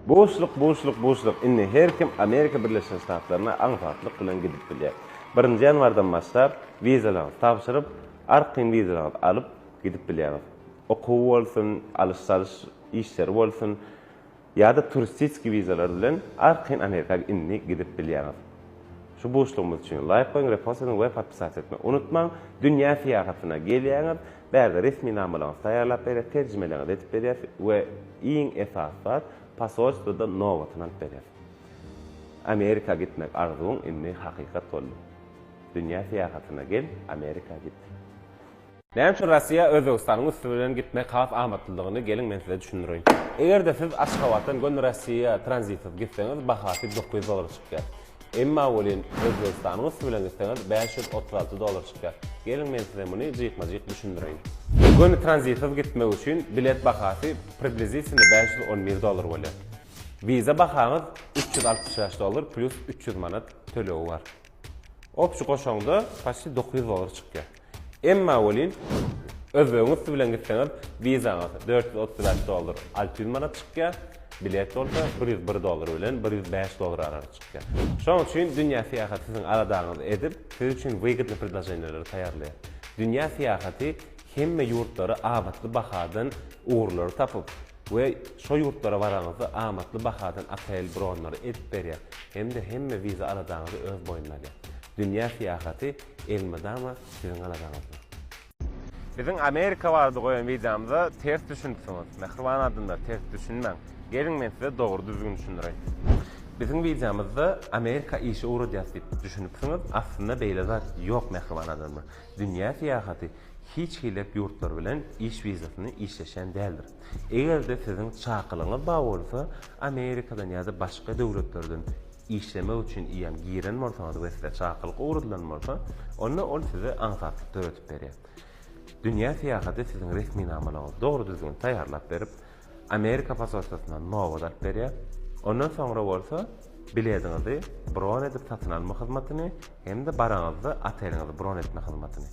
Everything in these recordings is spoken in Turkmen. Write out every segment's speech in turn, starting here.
Buşluk buşluk buşluk indi her kim Amerika Birleşen Ştatlaryna aňsatlyk bilen gidip bilýär. Birinji ýanwardan başlap wizalaryňyzy tabşyryp, arkaýyn wizalaryňyzy alyp gidip bilýäňiz. Okuw bolsun, alyş-çalyş işleri bolsun ýa-da turistiski wizalar bilen arkaýyn Amerika indi gidip bilýäňiz. Şu buşlugymyz üçin laýk goýuň, repost ediň we podpisat etmek unutmaň. Dünýä syýahatyna gelýäňiz, Bärde resminamalaryňyzy taýýarlap berýäris, terjimeleňizi edip berýäris we iň esasy zat, posolstwoda nobatyny alyp berýäris. Amerika gitmek arzuwyň indi hakykat boldy. Dünýä syýahatyna gel, Amerika git. Näme üçin Rossiýa Özbegistanyň üsti bilen gitmek has amatlydygyny geliň men size düşündireýin. Eger-de siz Aşgabatdan göni Rossiýa tranzitsiz gitseňiz bahasy dokuz ýüz dollara çykýar. Emma welin Özbegistanyň üsti bilen gitseňiz bäş ýüz otuz alty dollar çykýar. Geliň men size muny jikma-jik düşündireýin. Göni tranzitsyz gitmek üçin bilet bahasy priblizitilno bäş ýüz on bir dollar bolýar. Wiza bahaňyz üç ýüz altmyş bäş dollar plýus üç ýüz manat tölegi bar. Opjy goşaňda paçti dokuz ýüz dollar çykýar. Emma welin, özbegiň üsti bilen gitseňiz, wizaňyz dört ýüz otuz bäş dollar alty ýüz manat çykýar, bilet bolsa bir ýüz bir dollar bilen bir ýüz bäş dollar aralygynda çykýar. Şonuň üçin dünýä syýahaty siziň aladaňyzy edip, siz üçin wygdny predloženiýalar taýýarlaýar. Dünýä syýahaty hemme ýurtlary abatly bahadan ugurlary tapyp we şo ýurtlara baraňyzda amatly bahadan otel bronlary edip berýär hem-de hemme wiza aladaňyzy öz boýnuna alýar. Dünýä syýahaty Elmydama siziň aladaňyzda. Biziň Amerika barada goýan wideomyza ters düşünipsiňiz. Mähriban adamlar ters düşünmäň. Geliň men size dogry düzgün düşündireýin. Biziň wideomyzda Amerika işi ugradýas diýip düşünipsiňiz, aslynda beýle zat ýok mähriban adamlar. Dünýä syýahaty hiç hillek ýurtlar bilen iş wizasyny işleşen däldir. Eger-de siziň çakylygyňyz bar bolsa Amerikadan ýa-da başga döwletlerden işlemek üçin iýen giren bolsaňyz we size çakylyk ugradylan bolsa, onda ol size aňsatlyk döredip berýär. Dünýä syýahaty siziň resminamalaryňyzy dogry-düzgün taýýarlap berip, Amerika posolstwasyna nobat alyp berýär. Ondan soňra bolsa bilediňizi bron edip satyn alma hyzmatyny hem-de baraňyzda oteliňizi bron etme hyzmatyny.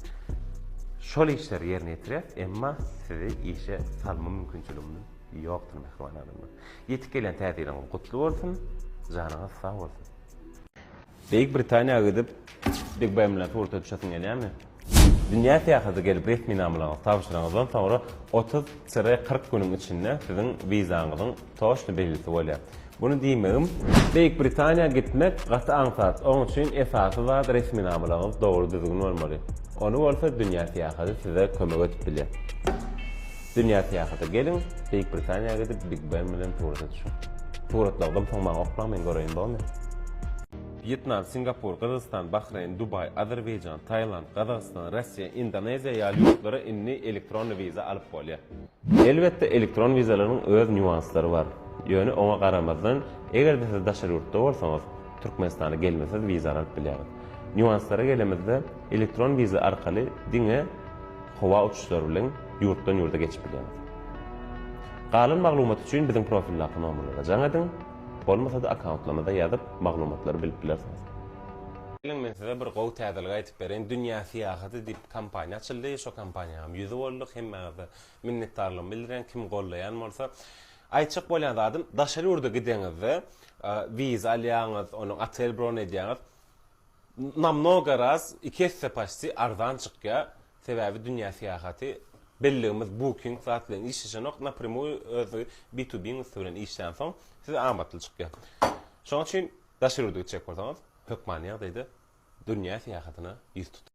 Şol işleri ýerine ýetirýäs, emma sizi işe salma mümkinçiligimiz ýokdur, mähriban adamlar. Ýetip gelýän täze ýylyňyz gutly bolsun, janyňyz sag bolsun! Beýik Britaniýa gidip BigBen bilen surata düşesiň gelýärmi? Dünýä syýahata gelip resminamalaryňyzy tabşyraňyzdan soňra otuz tire kyrk günüň içinde siziň wizaňyzyň toçny belgisi bolýar. Muny diýmegim, Beýik Britaniýa gitmek gaty aňsat, oň üçin esasy zat resminamalaryňyz dogry düzgün bolmaly. Ony bolsa dünýä syýahaty size kömek edip bilýär. Dünýä syýahata geliň, Beýik Britaniýa gidip Big Ben bilen surata düşüň. Suratlagdan soň maňa oklaň men göreýin bomy? Wýetnam, Singapur, Gyrgyzystan, Bahreýn, Dubaý, Azerbaýjan, Tailand, Gazagystan, Russiýa, Indoneziýa ýaly ýurtlara indi elektron wiza alyp bolýar. Elbetde elektron wizalaryň öz nýuanslary bar. Ýöne oňa garamazdan, eger-de siz daşary ýurtda bolsaňyz, Türkmenistana gelmesiz wizany alyp bilýäris. Nýuanslara gelemizde, elektron wiza arkaly diňe howa uçuşlary bilen ýurtdan ýurda geçip bilýäris. Galan maglumat üçin biziň profildaky nomerlere jaň ediň, bolmasa-da akkauntlarymyza ýazyp maglumatlary bilip bilersiňiz. Geliň men size bir gowy täzelik aýtyp bereýin, Dünýä syýahaty diýip kompaniýa açyldy, şo kompaniýanyň ýüzi bolduk, hemmäňize minnetdarlygymy bildirýän, kim goldaýan bolsa, Aýtjak bolýan zadym, daşary ýurda gideňizde, wiza alýaňyz, onuň otel bron edýäňiz, namnoga raz, iki esse paçti arzan çykýar, sebäbi dünýä syýahaty, belligimiz Booking zat bilen işleşenok, napremýuý öz B to B usuly bilen işlänsoň, size amatly çykýar. Şonuň üçin daşary ýurda gitjek bolsaňyz, hökmany ýagdaýda dünýä syýahatyna ýüz tutuň.